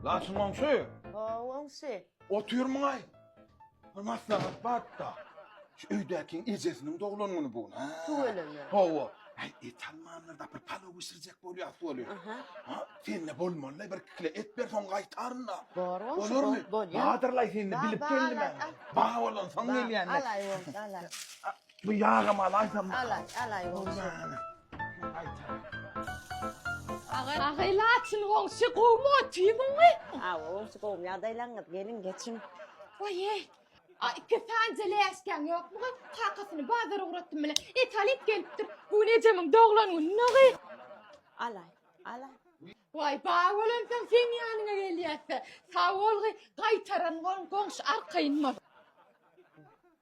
Laçyn goňşy! Hawa, goňşy. Otyrmyň-aý? Bir maslahat bar-da. Şu öýdäkiň ejesiniň doglan güni bu gün. Hä. Tüweleme. Hawa. Äý, et almanlarda bir palaw bişirjek bolýas weli. Aha. Ha, sende bolmaly-laý, bir-iki kile et ber, soň gaýtaryn-da. Bar goňşy, bol, Bolarmy? bolýar. Bardyr-laý, sende Bar, bilip bar, geldim bar, men. al. Bar bolansoň Bar, gelýän-le. Alaý, goňşy, alaý. Bu ýagam alaýsam. Alaý, alaý goňşy. Agaý laçyn goňşy gowmy otyrmyňmy? Aw, goňşy gowmy ýagdaýlaňyz geliň geçiň. Waý eý. A iki sanje läşkäň ýokmugy? Kakasyny bazara ugratdym bile. Et alyp gelipdir. Bu gün ejemiň doglan güni nogy. Alaý, alaý. Waý bar bolansoň seň ýanyňa gelýäsde. Sag bolgy gaýtaran goň goňşy arkaýynmaz.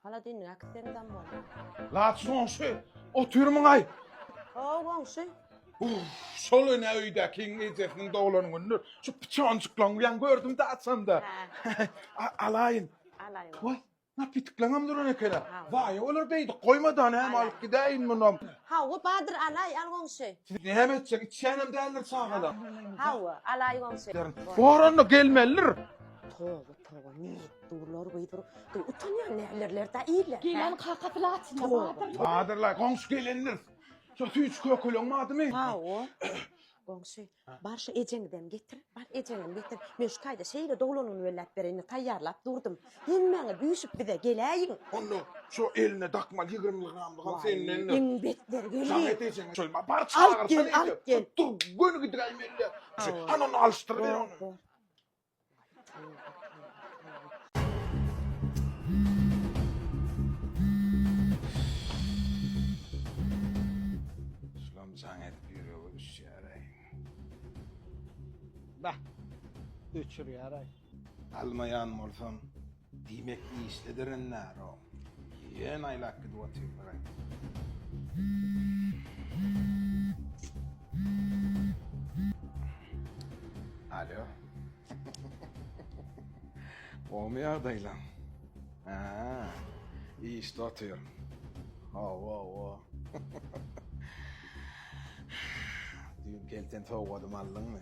Hala dinni äkitseniz am bolar. Laçyn goňşy, otyrmyňaý? Hawa goňşy. Uff, şol ene öýdäkiň ejesiniň doglan günüdir. Şu pyçonjyklaň bilen gördüm-de açanda. Alaýyn. Alaýyn. Waý, Napitkleňem duran ekena. Waýa olar beýdip goýmada näme alyp gidäýin munam. Hawa Badyr alaý al goňşy. Siz näme etjek içýänem däldir çagalar. Hawa alaý goňşy. Boranda gelmelidir. Toba toba nädip durlar beýdip gyz utanýar nälerler da iýler. Geleniň kakasy laçynda Badyr. Badyrlaý goňşy gelendir. Şo süýji kökeleň badymy? Hawa. Goňşy, bar şu ejeňizem getir, bar ejeňem getir. Men şu taýda şeýle doglanyny belläp bereýin, taýýarlap durdum. Hemmäňiz üýşüp bize geläýiň. Onda şo eline dakmaly ýigrimi gramlyk al sendendir. Iň betleri geldi. Samet ejeňe şoýma, bar çagyrsana indi. Tutdyr, göni gidiräýmeli-dä. Hany onda alyşdyryber ony. Şulam jaň edip ýürege düşýär-aý. Bah! Öçürýär-aý. Almaýan bolsam, Diýmek işde direnärom. Ýöne aýlap gidip otyrlar-a. Alýo. Gowymy ýagdaýlaň? Hä. Işde otyryn. Hawa, hawa. Düýn pelten sowgadym aldyňmy?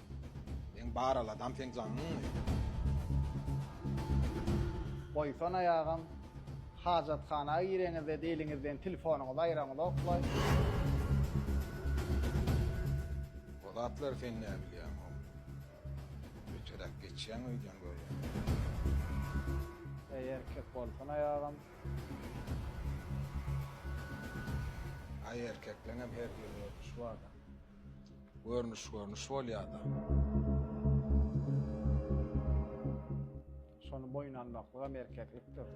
Seň bar aladam seň jaňyňmy? Goýsana ýagam, hajathana gireňizde diliňizden tilfonyňyzy aýraňyzok-laý. O zatlary sen näbilýäň, how? Öteräk geçýäň öýdýän görýän. Eý erkek bolsana ýagam. Aý erkekleňem her bir görnüşi barda. Görnüş görnüş bolýada. Şony boýun almaklygam erkeklikdir.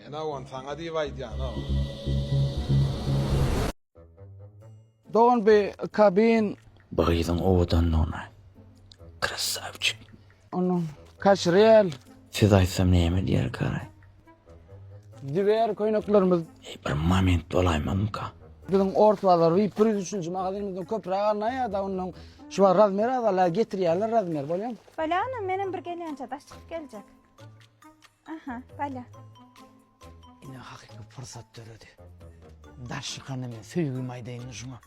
Ene on saňa diýip aýdýanok. Don be a kabin. Bu gyzyň owadanlygyna. Krasavçik. Ony kaçyryal. Siz aýtsam näme diýer garay. Diwer köýneklerimiz. Eý bir moment bolaýmazmyka. Biziň ors bazar vip bir ýüz üçünji magazynymyzdan köpräk alnaýada ondan şubar razmer azala getirýärler razmer bolýam. Balya onam menem bir gelýänçä daş çykyp geljek. Aha balya. Ine hakyky pursat döredi. Daş çykanda men söýgimi aýdaýyn şuňa.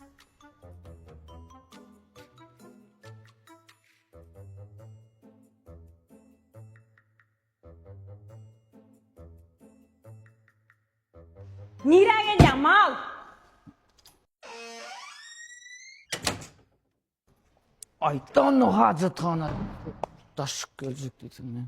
Nirä gelýäň, mal? Aýt-da onda hajathana. Daşyk geljek diýseň, men.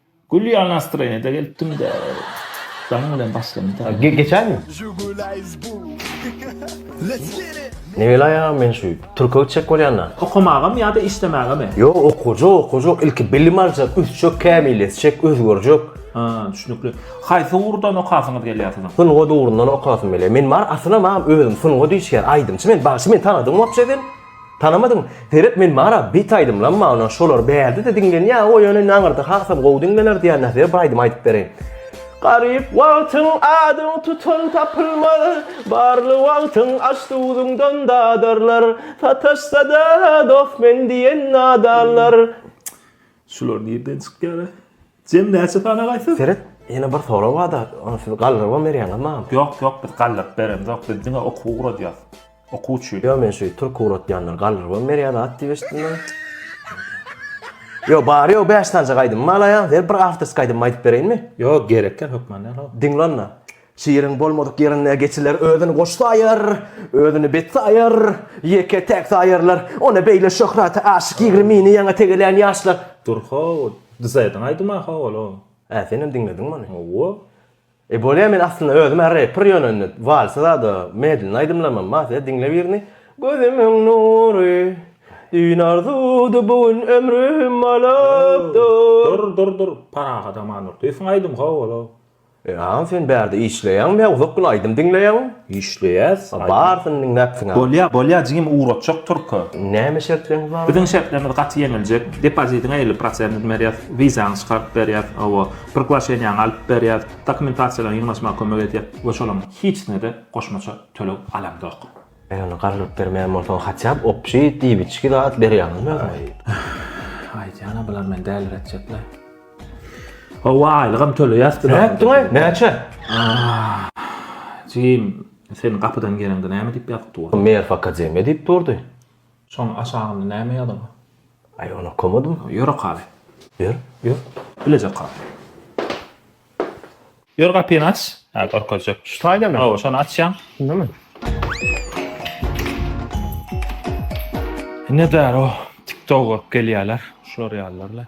Gülýän nastroýeniýede gelipdim-de, daň bilen başlandy. Geçäými? Nebelaýa men şu türke gitjek bolýan-da. Okamagamy ýa-da işlemägemi? Ýok, okajak, okajak. Ilki bilim aljak, ösjek, kämilleşjek, özgerjek. Ha, düşnükli. Haýsy ugurdan okasyňyz gelýär siziň? Sungat ugrundan okasym gelýär. Men bar, aslynda maňa özüm sungat işgäri, aýdymçy men. Bagşy meni tanadyňmy wapşe sen? Tanamadyň? Seret men bara bet aýdymlam magna şolar bärdede diňlenýä o ýöne indi aňyrda hasam gowy diňlener diýän nähili bir aýdym aýdyp bereýin. Garyp wagtyň adyň tutan tapylmaz, Barly wagtyň aş-duzuňdan dadarlar, Sataşsa-da dost men diýen nadanlar. Şular nirden çykýar-a? Jem näçe sany agaýsyz? Seret, ýene bir sorag bar-da, ony siz galdyrybam berýäňiz maňa. Ýok, ýok, biz galdyryp beremzok, biz diňe okuw guradýas. Okuw üçin. Ýok, men şu türki guratýanlar galdyrybam berýär zat diýip eşitdim men. Ýok, bary ýogy bäş sanjak aýdymym alaýan, ber bir awtorskiý aýdymymy aýdyp bereýinmi? Ýok, gerekýa hökman däl-ow. Diňle onda. Şiiriň bolmadyk ýerinde geçiler özüni goş saýar, özüni bet saýar, ýeke-täk saýarlar. Ony beýle şöhrata aşyk ýigrimini ýaňy tegelän ýaşlar. Dur how, dyzaýdyň aýdyma how ol-ow. Hä, senem diňlediňmi ony? Hawa. E, bolýa men aslynda özüm-ä repper ýöne indi walsy zada medlin aýdymlamam. Basýa diňle birini. Gözümiň nury, düýn arzuwdy bu gün ömrüm alypdyr. Dur, dur, dur. Parahat Amandurdyýewiň aýdymy how ol-ow. Ynha sen bärde işleýäňmi ýa uzak gün aýdym diňleýäňmi? Işleýäs. Barysyny diňläpsiň a. Bolýa, bolýa jigim ugratjak turka. Näme şertlerňiz bar? Biziň şertlerimiz gaty ýeňiljek. Depozidiňe elli prosentini berýäs, wizaňy çykaryp berýäs, hawa, priglaşeniýaňy alyp berýäs, dokumentasiýalaryňy ýygnaşmaga kömek edýäs we şolaň hiçsine-de goşmaça töleg alamzok. Eý ony garlyp bermeýän bolsaň haçap opşi diýbiçki zat ber ýaňymy özüme. Aýtýana bular meni däliretjekler. Hawa aýlygam töleýäs diler. Nätdiňaý näçe? Jim sen gapydan geleňde näme diýip ýazyp durdy? Meýer fakademiýa diýip durdy. Şoň aşagynda näme ýazygy? Aý ony okamadym. Ýör okaly. Ýör. Ýör. Bilejek hal. Ýör gapyny aç. Hä görkezjek. Şu taýdamy? Hawa şony açýaň. Şundamy? Ine daro TikTok görüp gelýärler. Şular ýalylarla.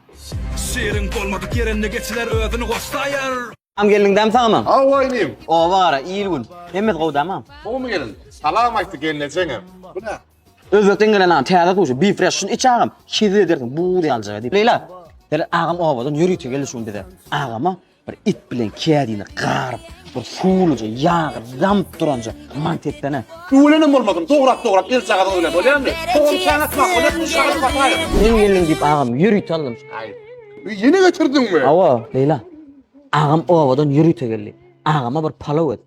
Şirin bolmadyk ýerinde geçiler özüni goşlaýar. Am gelniň dämi saňa? Hawa inim. Oba gara, il-gün. Hemmesi gowy dämi am? Gowumy gelin? Salam aýtdy gelnejeňem. Bu nä? Özbekden gelen agam täze sushi, beef fresh. Şuny iç agam, hezil edersiň, buz ýaljak edip. Leýla, Hele agam obadan ýörite geldi şu gün bize. Agama Bir it bilen kädini garyp, bir suwluja ýagy damyp duranja mant etsene. Ölenem bolmasyn, dograp dograp elçagazyň ölen bolýamy? Togam çaý atmak bolýar, bu şahyr Basaýew. Meniň gelnim diýip agam ýörite alnym şaýy. Öý ýene getirdiňmi? Hawa, Leýla. Agam obadan ýörite geldi. Agama bir palaw et.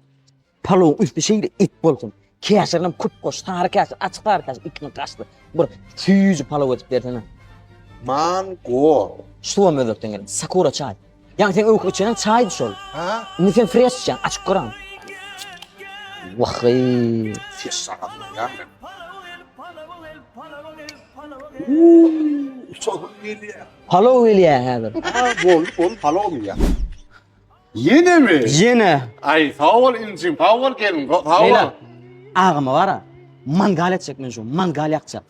Palawyň üsti şeýle it bolsun. Käşirinem köp goş, sary käşir, açyk sary käşir, iki gün gaşdy. Bir süýji palaw edip bersene. Mango. Suwam özbekden gelen, sakura çaý. Ýaňy sen öwki içenem çaýdy şol. Ha? Indi sen fresh içýäň, açyk göräň. Wahyy. Ses sagatlyk ýa men. Uuu, sohum gelýär. Palaw gelýär häzir. Aa, bol, bol, palaw ýa. Ýene mi? Ýene. Aý, sag bol injim, sag bol gelin, go- sag Leýla, bol. agama bara, mangal etjek men şu, mangal ýakjak.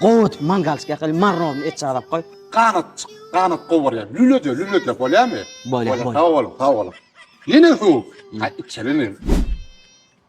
Gowy etip mangalçyk ýakaly, marnowny et çagdap goý. Ganatjyk, ganat gowy bolýar. Lülede, lülede bolýarmy? Bolýar, bolýar. Sag boluň, sag boluň. Ýene suw. Ha, içelim.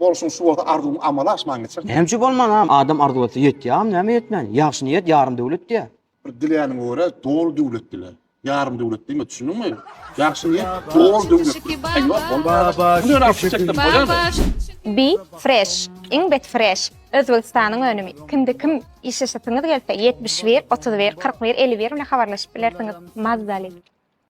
Bolşuň şu bolsa arzuwyň amala aşman geçer. Näme üçin bolmanam? Adam arzuw etse ýetýägem, näme ýetmän? Ýagşy niýet ýarym döwlet diýýär. Bir diläniňe görä doly döwlet dile. Ýarym döwlet diýme, düşündiňmi? Ýagşy niýet doly döwlet. Aý ýok, bolmaz. Be fresh, iň bet fresh, Özbegistanyň önümi. Kimde kim işleşesiňiz gelse ýetmiş bir, otuz bir, kyrk bir, elli bir bilen habarlaşyp bilersiňiz. Mazaly.